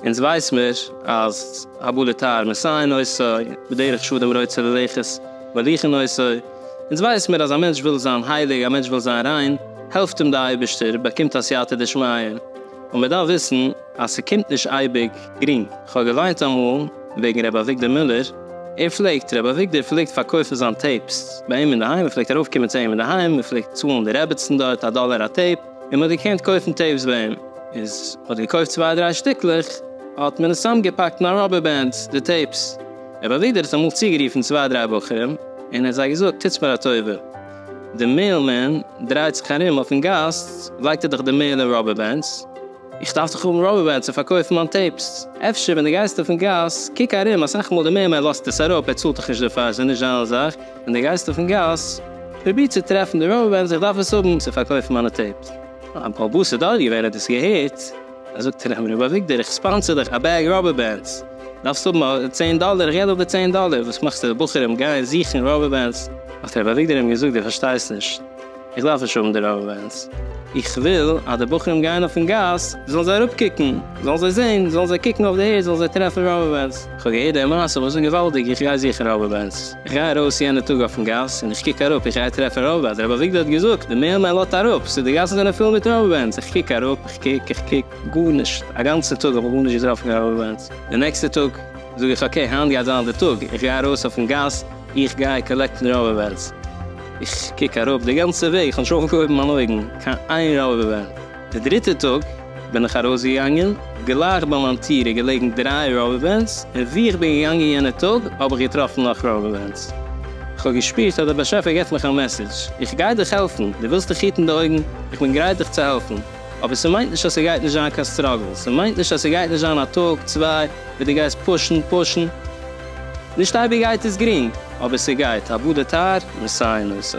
אונז ווייס מיר אז הבא לתאר מסייעין עושה, בדרך שאדם רוצה ללכת מוליכין עושה, אונז ווייס מיר אז א מענטש וויל זיין הייליג, א מענטש וויל זיין ריין, העלפט אים די אייבערשטער, באקומט א סייעתא דשמיא, און מען דארף וויסן אז ס'קומט נישט אייביג גרינג. כ'האב געוויינט אמאל וועגן ר' אביגדור מילער, ער פלעגט, ר' אביגדור פלעגט פארקויפן זיין טעיפס ביי אים אינדערהיים, מ'פלעגט ארויפקומען צו אים אינדערהיים, מ'פלעגט צאלן די רעביצן דארט א דאלער א טעיפ, און מ'האט געקענט קויפן טעיפס ביי אים, איז מ'האט געקויפט צוויי דריי שטיקלעך, האט מען עס צוזאמגעפאקט אין א ראבער בענד, די טעיפס. ר' אביגדור האט אמאל צוגערופן צוויי דריי בחורים, און ער האט זיי געזאגט, טוטס מיר א טובה, די מעיל מען דרייט זיך ארום אויפן גאס לייגט ער דאך די מעיל אין ראבער בענדס, איך דארף דאך האבן ראבער בענדס צו פארקויפן מיין טעיפס, אפשר ווען די גייסט אויפן גאס קוק ארום אסאך מאל די מעיל מען לאזט עס אראפ ער צאלט דאך נישט דערפאר עס איז נישט זיין זאך, ווען די גייסט אויפן גאס פרוביר צו טרעפן די ראבער בענדס איך דארף עס האבן צו פארקויפן מיינע טעיפס. א באבא ס'דארט געווען האט עס געהערט. זאגט ער אים ר' אביגדור איך ספאנסער דיך א בעג ראבער בענדס, דארפסט האבן א צען דאלער איך גיב דיך די צען דאלער, וואס מאכסטו די בחורים גייען זוכן ראבער בענדס? האט ר' אביגדור אים געזאגט דו פארשטייסט נישט, איך דארף נישט האבן די ראבער בענדס, איך וויל אז די בחורים גייען אויפן גאס זאלן זיי אראפ קוקן, זאלן זיי זען, זאלן זיי קוקן אויף די ערד זאלן זיי טרעפן ראבער בענדס, איך האב געהערט די מעשה וואס איז געוואלדיג איך גיי זוכן ראבער בענדס, איך גיי ארויס יענע טאג אויפן גאס און איך קוק אראפ איך גיי טרעפן ראבער בענדס, ר' אביגדור האט געזאגט די מער מען לאדט אראפ ס'איז די גאסן זענען פול מיט ראבער בענדס, איך קוק אראפ. קוק איך קוק, גארנישט, א גאנצע טאג האב איך גארנישט געטראפן קיין ראבער בענדס, די נעקסטע טאג זאג איך אקעי היינט גייט זיין די טאג, איך גיי ארויס אויפן גאס, איך גיי קאלעקטן ראבער בענדס, איך קוק אראפ די גאנצע וועג, איך האב נישט אויפגעהויבן מיין אויגן קיין איין ראבער בענד, די דריטע טאג בין איך ארויסגעגאנגען, גלייך ביי מיין טיר איז געלעגן דריי ראבער בענדס, און ווי איך בין געגאנגען יענע טאג האב איך געטראפן נאך ראבער בענדס, איך האב געשפירט אז דער באשעפער געבט מיך א מעסעדזש, איך גיי דיך העלפן, דו ווילסט דיך היטן די אויגן? איך בין גרייט דיך צו העלפן, אבער ס'מיינט נישט אז ס'גייט נישט זיין קיין סטראגל, ס'מיינט נישט אז ס'גייט נישט זיין א טאג צוויי וואס דו גייסט פושן פושן, נישט אייביג גייט עס גרינג, אבער ס'גייט, הבא די טייער, און סיי נושא.